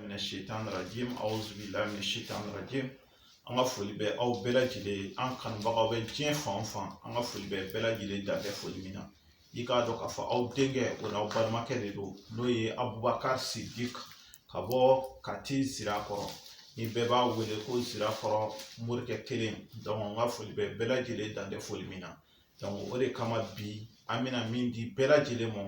Minash shaitanir rajim. A'udhu billahi minash shaitanir rajim. An ka foli bɛ aw bɛɛ lajɛlen an kanubagaw bɛ diɲɛ fan o fan an ka foli bɛ bɛɛ lajɛlen dan tɛ foli min na i k'a dɔn k'a fɔ aw denkɛ o n'aw balimakɛ de don n'o ye abubakari sidiki ka bɔ kati sirakɔrɔ ni bɛɛ b'a wele ko sirakɔrɔ morikɛ kelen donc an ka foli bɛ bɛɛ lajɛlen dan tɛ foli min na o de kama bi an bɛna min di bɛɛ lajɛlen ma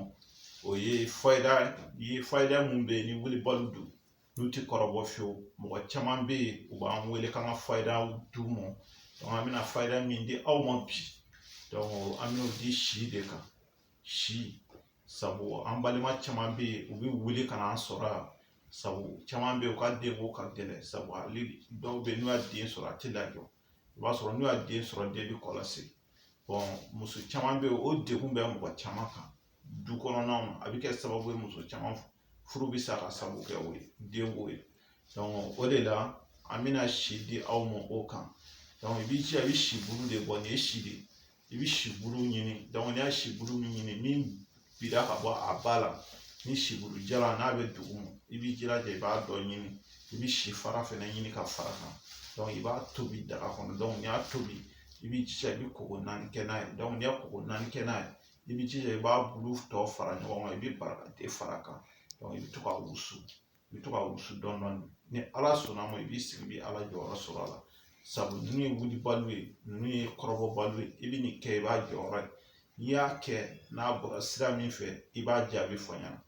o ye fayida mun bɛ yen ni wulibaliw don n'u ti kɔrɔbɔ fiyewu mɔgɔ caman bɛ yen u b'an wele k'an ka fayidaw d'u ma an bɛna fayida min di aw ma bi an bɛna o di si de kan si sabu an balima caman bɛ yen u bɛ wuli ka n'an sɔrɔ yan sabu caman bɛ yen u ka denko ka gɛlɛn sabu hali dɔw bɛ yen n'u y'a den sɔrɔ a tɛ lajɔ i b'a sɔrɔ n'u y'a den sɔrɔ den bɛ kɔlɔsi bon muso caman bɛ yen o degun bɛ mɔgɔ caman kan du kɔnɔnaw na a bɛ kɛ sababu ye muso caman furu bɛ sa ka sabu kɛ o ye denko ye donc o de la an bɛna si di aw ma o kan i b'i jija i bɛ si bulu de bɔ nin ye si de i bɛ sibulu ɲini n'i y'a sibulu min ɲini min bira ka bɔ a ba la ni sibulu jalan n'a bɛ duguma i b'i jilaja i b'a dɔ ɲini i bɛ si fara fɛnɛ ɲini ka fara kan i b'a tobi daga kɔnɔ n'i y'a tobi i b'i jija i bɛ koko naani kɛ n'a ye n'i y'a koko naani kɛ n'a ye i b'i jija i b'a bulu tɔ fara ɲɔgɔn kan i bɛ barakante fara a kan i bɛ to ka wusu i bɛ to ka wusu dɔɔnin dɔɔnin ni ala sɔnna ma i b'i sigi i bɛ ala jɔyɔrɔ sɔrɔ a la sabu ninnu ye wulibaliw ye ninnu ye kɔrɔbɔbaliw ye i bɛ nin kɛ i b'a jɔyɔrɔ ye n'i y'a kɛ n'a bɔra sira min fɛ i b'a jaabi fɔ n ɲɛna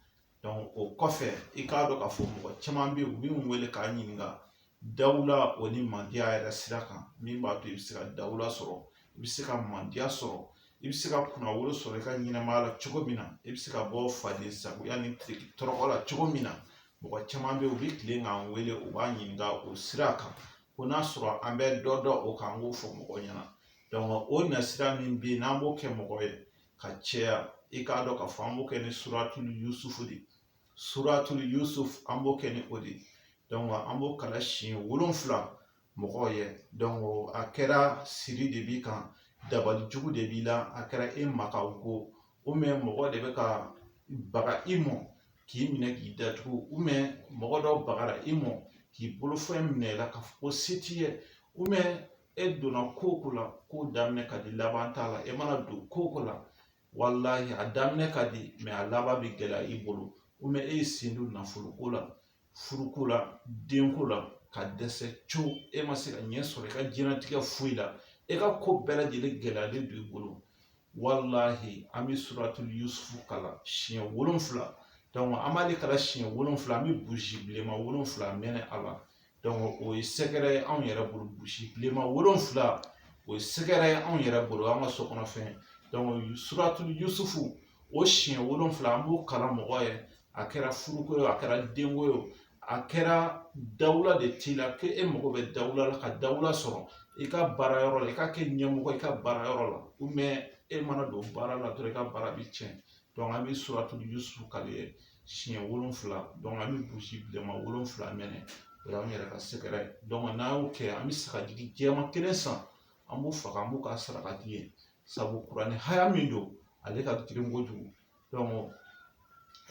donc o kɔfɛ i k'a dɔn k'a fɔ mɔgɔ caman bɛ yen u bɛ n wele k'a ɲininka Dawula o ni mandiya yɛrɛ sira kan min b'a to i bɛ se ka dawula sɔrɔ i bɛ se ka mandiya sɔrɔ i bɛ se ka kunnawolo sɔrɔ i ka ɲɛnɛmaya la cogo min na i bɛ se ka bɔ faden sagoya ni tɔɔrɔ la cogo min na mɔgɔ caman bɛ yen u bɛ tilen k'an wele u b'a ɲininka o sira kan ko n'a sɔrɔ an bɛ dɔ dɔn o kan an k'o fɔ mɔgɔw ɲɛna o nasira min bɛ yen n'an b'o kɛ mɔgɔ ye ka caya i k'a dɔn k'a fɔ an b'o kɛ ni suratuli yusufu de suratul yusuf an b'o kɛ ni o de donc an b'o kalan siɲɛ wolonfila mɔgɔw ye donc a kɛra siri de b'i kan dabali jugu de b'i la a kɛra e makaw ko ou bien mɔgɔ de bɛ ka baga i mɔ k'i minɛ k'i datugu ou bien mɔgɔ dɔ bagara i mɔ k'i bolofɛn minɛ i la k'a fɔ ko se t'i ye ou bien e donna ko o ko la ko daminɛ ka di laban t'a la e mana don ko o ko la walahi a daminɛ ka di mɛ a laban bɛ gɛlɛya i bolo ou bien e ye sen don nafoloko la furuko la denko la ka dɛsɛ co e ma se ka ɲɛ sɔrɔ i ka diɲɛnatigɛ foyi la e ka ko bɛɛ lajɛlen gɛlɛyalen don i bolo walahi an bɛ suratul yusufu kalan siɲɛ wolonfila an b'ale kalan siɲɛ wolonfila an bɛ buzi bilenman wolonfila mɛnɛ a la o ye sɛgɛrɛ ye anw yɛrɛ bolo buzi bilenma wolonfila o ye sɛgɛrɛ ye anw yɛrɛ bolo an ka so kɔnɔ fɛn suratu yusufu o siɲɛ wolonfila an b'o kalan mɔgɔ ye a kɛra furuko ye a kɛra denko ye a kɛra dawula de t'i la ko e mago bɛ dawula la ka dawula sɔrɔ i ka baara yɔrɔ la i ka kɛ ɲɛmɔgɔ i ka baara yɔrɔ la e mana don baara la dɔrɔn i ka baara bɛ tiɲɛ an bɛ suratu yusufu kalan i ye siɲɛ wolonfila an bɛ buzi bilenma wolonfila mɛnɛ o y'an yɛrɛ ka sɛgɛrɛ ye n'an y'o kɛ an bɛ sagajigi jɛman kelen san an b'o faga an b'o k'a sarakati ye sabu kuranɛ haya min don ale ka girin kojugu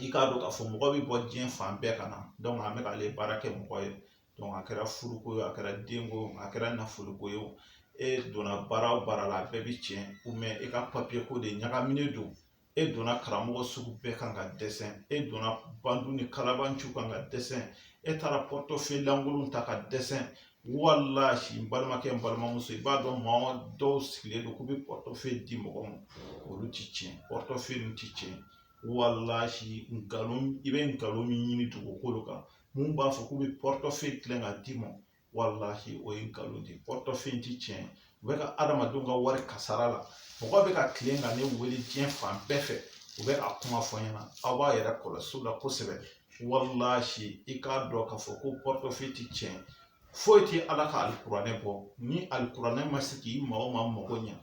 i k'a dɔn k'a fɔ mɔgɔ bɛ bɔ diɲɛ fan bɛɛ ka na an bɛ k'ale baara kɛ mɔgɔ ye a kɛra furuko ye a kɛra denko ye a kɛra nafoloko ye e donna baara o baara la a bɛɛ bɛ tiɲɛ ou bien e ka papiyeko de ɲagaminen don e donna karamɔgɔ sugu bɛɛ kan ka dɛsɛ e donna bandi ni kalabanci kan ka dɛsɛ e taara pɔtɔfe lankolon ta ka dɛsɛ walahi n balimakɛ n balimamuso i b'a dɔn maa dɔw sigilen don k'u bɛ pɔtɔfe di mɔgɔ ma olu ti tiɲɛ pɔtɔfe ninnu ti tiɲɛ walahi nkalon i bɛ nkalon min ɲini dugukolo kan mun b'a fɔ k'u bɛ pɔtɔfe tilen k'a d'i ma walahi o ye nkalon de ye pɔrɔtɔfɛyi ti tiɲɛ ye u bɛ ka adamadenw ka wari kasara la mɔgɔ bɛ ka tilen ka ne wele diɲɛ fan bɛɛ fɛ u bɛ k'a kuma fɔ n ɲɛna aw b'aw yɛrɛ kɔlɔsi o la kosɛbɛ walahi i k'a dɔn k'a fɔ ko pɔrɔtɔfɛyi ti tiɲɛ foyi tɛ ala ka alikuranɛ bɔ ni alikuranɛ ma se k'i maa o maa mago ɲɛ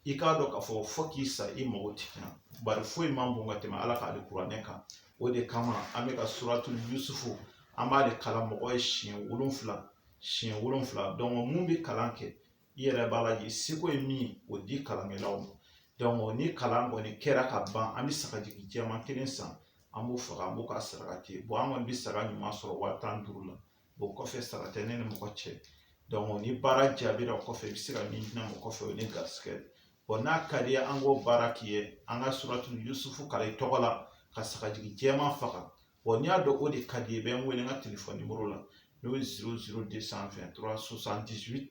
i k'a dɔn k'a fɔ fo k'i sa i mago tɛ ɲa bari foyi man bon ka tɛmɛ ala ka alikuranɛ kan o de kama an bɛ ka suratul yusufu an b'a de kalan mɔgɔ ye siɲɛ wolonfila siɲɛ wolonfila dɔnku mun bɛ kalan kɛ i yɛrɛ b'a lajɛ i seko ye min o di kalankɛlaw ma dɔnku ni kalan kɔni kɛra ka ban an bɛ sagajigi jɛman kelen san an b'o faga an b'o k'a sarakati bɔn an kɔni bɛ saga ɲuman sɔrɔ waa tan duuru la o kɔfɛ sara tɛ ne ni mɔgɔ cɛ dɔnku ni baara jaabira o kɔfɛ i bɛ se ka min di ne ma o kɔfɛ o ye ne garisigɛ ye bɔn n'a ka d'i ye an k'o baara k'i ye an ka suratu yusufu kalan i tɔgɔ la ka sagajigi jɛman faga bɔn n'i y'a dɔn o de ka di i ye i bɛ n wele n ka telefɔni nimɔrɔ la n'o ye ziro ziro de san vɛn turuwa sosandisi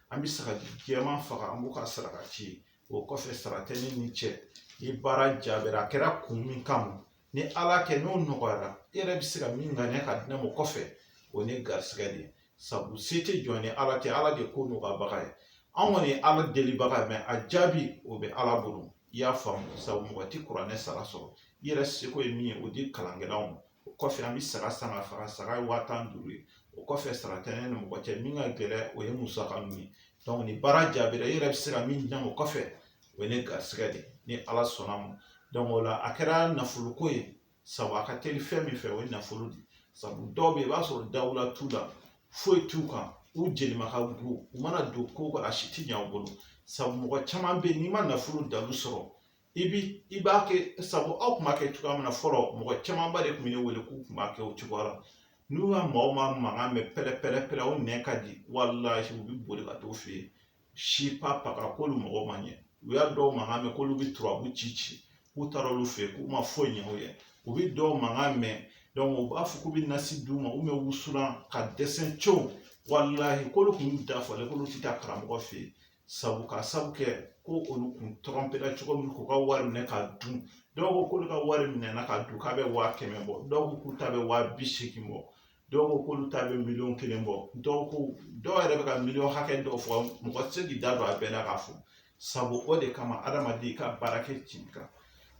an bɛ sagajigi jɛman faga an b'o ka saraka ci o kɔfɛ sara tɛ ne n'i cɛ ni baara jaabira a kɛra kun min kama ni ala kɛ n'o nɔgɔyara i yɛrɛ bɛ se ka min ŋaniya ka di ne ma o kɔfɛ o ne garisigɛ de ye sabu se tɛ jɔn ni ala tɛ ala de ko nɔgɔyabaga ye an kɔni ye ala delibaga ye mɛ a jaabi o bɛ ala bolo i y'a faamu sabu mɔgɔ tɛ kuranɛ sara sɔrɔ i yɛrɛ seko ye min ye o di kalankɛlaw ma o kɔfɛ an bɛ saga san ka faga saga ye waa tan ni duuru ye o kɔfɛ sara tɛ ne ni mɔgɔ cɛ min ka gɛlɛn o ye musaka ninnu ye ni baara jaabira i yɛrɛ bɛ se ka min di ne ma o kɔfɛ o ye ne garisigɛ de ni ala sɔnna ma o la a kɛra nafolo ko ye sabu a ka teli fɛn min fɛ o ye nafolo de sabu dɔw bɛ yen i b'a sɔrɔ dawula t'u la foyi t'u kan u jelima ka go u mana don ko kɔnɔ a si ti ɲɛ u bolo sabu mɔgɔ caman bɛ yen n'i ma nafolo dalu sɔrɔ i bi i b'a kɛ sabu aw kun b'a kɛ cogoya min na fɔlɔ mɔgɔ camanba de kun bɛ ne wele k'u kun b'a kɛ o cogoya la n'u ka maa o maa mankan mɛn pɛrɛ pɛrɛ pɛrɛ o nɛn ka di walahi u bɛ boli ka t'o fɛ yen si pa pa ka k'olu mago ma ɲɛ u y'a dɔw mankan mɛn k'olu bɛ turabu ci ci k'u taara olu fɛ yen k'u ma foyi ɲɛ u ye u bɛ dɔw mankan mɛn u b'a fɔ k'u bɛ nasi d'u ma u bɛ wusulan ka dɛsɛ cɛwu walahi k'olu kun y'u dafalen k'olu tɛ taa karamɔgɔ fɛ yen sabu ka sabu kɛ ko olu kun tɔrɔmpera cogo min k'u ka wari minɛ ka dun dɔw ko k'olu ka wari minɛna ka dun k'a bɛ waa kɛmɛ bɔ dɔw ko k'u ta bɛ waa bi seegin bɔ dɔw ko k'olu ta bɛ miliyɔn kelen bɔ dɔw ko dɔw yɛrɛ bɛ ka miliyɔn hakɛ dɔw fɔ mɔgɔ tɛ se k'i da don a bɛɛ la k'a fɔ sabu o de kama adamaden ka baara kɛ tiɲɛ kan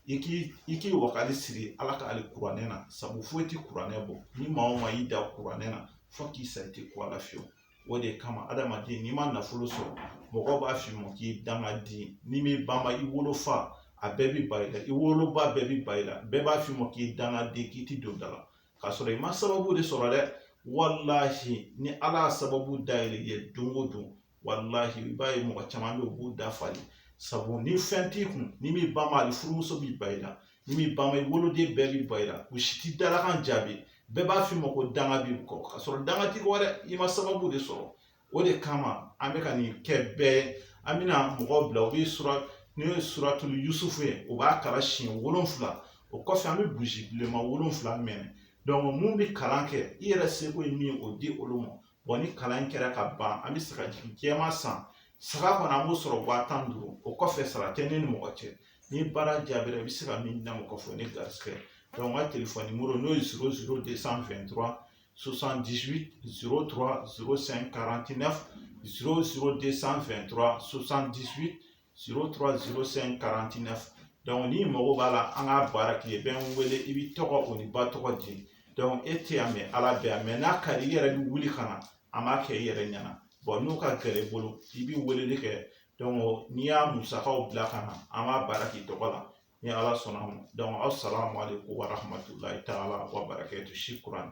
i k'i i k'i wakali siri ala ka alikuranɛ na sabu foyi tɛ kuranɛ bɔ ni maa o maa y'i da kuranɛ na fo k'i sa i tɛ ko a la fiyewu o de kama adamaden n'i ma nafolo sɔrɔ mɔgɔ b'a f'i ma k'i dangaden n'i m'i banba i wolofa a bɛɛ bi ban i la i woloba bɛɛ bi ban i la bɛɛ b'a f'i ma k'i dangaden k'i ti don da la k'a sɔrɔ i ma sababu de sɔrɔ dɛ walahi ni ala y'a sababu dayɛlɛ i ye don o don walahi i b'a ye mɔgɔ caman bɛ u b'u dafalen sabu ni fɛn t'i kun n'i m'i banba hali furumuso b'i ban i la n'i m'i banba i woloden bɛɛ b'i ban i la u si t'i dalakan jaabi bɛɛ b'a f'i ma ko danga b'i kɔ k'a sɔrɔ danga t'i kɔ dɛ i ma sababu de sɔrɔ o de kama an bɛ ka nin kɛ bɛɛ an bɛna mɔgɔw bila u bɛ sura n'o ye suratulu yusufu ye u b'a kalan siɲɛ wolonfila o kɔfɛ an bɛ buzi bilenman wolonfila mɛnɛ dɔnku mun bɛ kalan kɛ i yɛrɛ seko ye min ye o di olu ma bɔn ni kalan in kɛra ka ban an bɛ sagajigi jɛman san saga kɔni an b'o sɔrɔ waa tan duuru o kɔfɛ sara tɛ ne ni mɔgɔ cɛ ni baara jaabira i bɛ se ka min di n ma k'a fɔ ne garisigɛ n ka telefɔni nimɔrɔ n'o ye zoro zoro de san fɛn tura sosan disi zoro tura zoro sɛn karanti nɛfu zoro zoro de san fɛn tura sosan disi zoro tura zoro sɛn karanti nɛfu dɔnku n'i mago b'a la an ka baara k'i ye bɛ n wele i b'i tɔgɔ o n'i ba tɔgɔ di dɔnku e tɛ yan mɛ ala bɛ yan mɛ n'a ka di i yɛrɛ bɛ wuli ka na an b'a kɛ i yɛrɛ ɲɛna bon n'o ka gɛlɛn i bolo i bɛ weleli kɛ n'i y'a musakaw bila ka na an b'a baara k'i tɔgɔ la ni ala sɔnna a ma asalamu alekum waramatulayi taala wabarakatu sukuran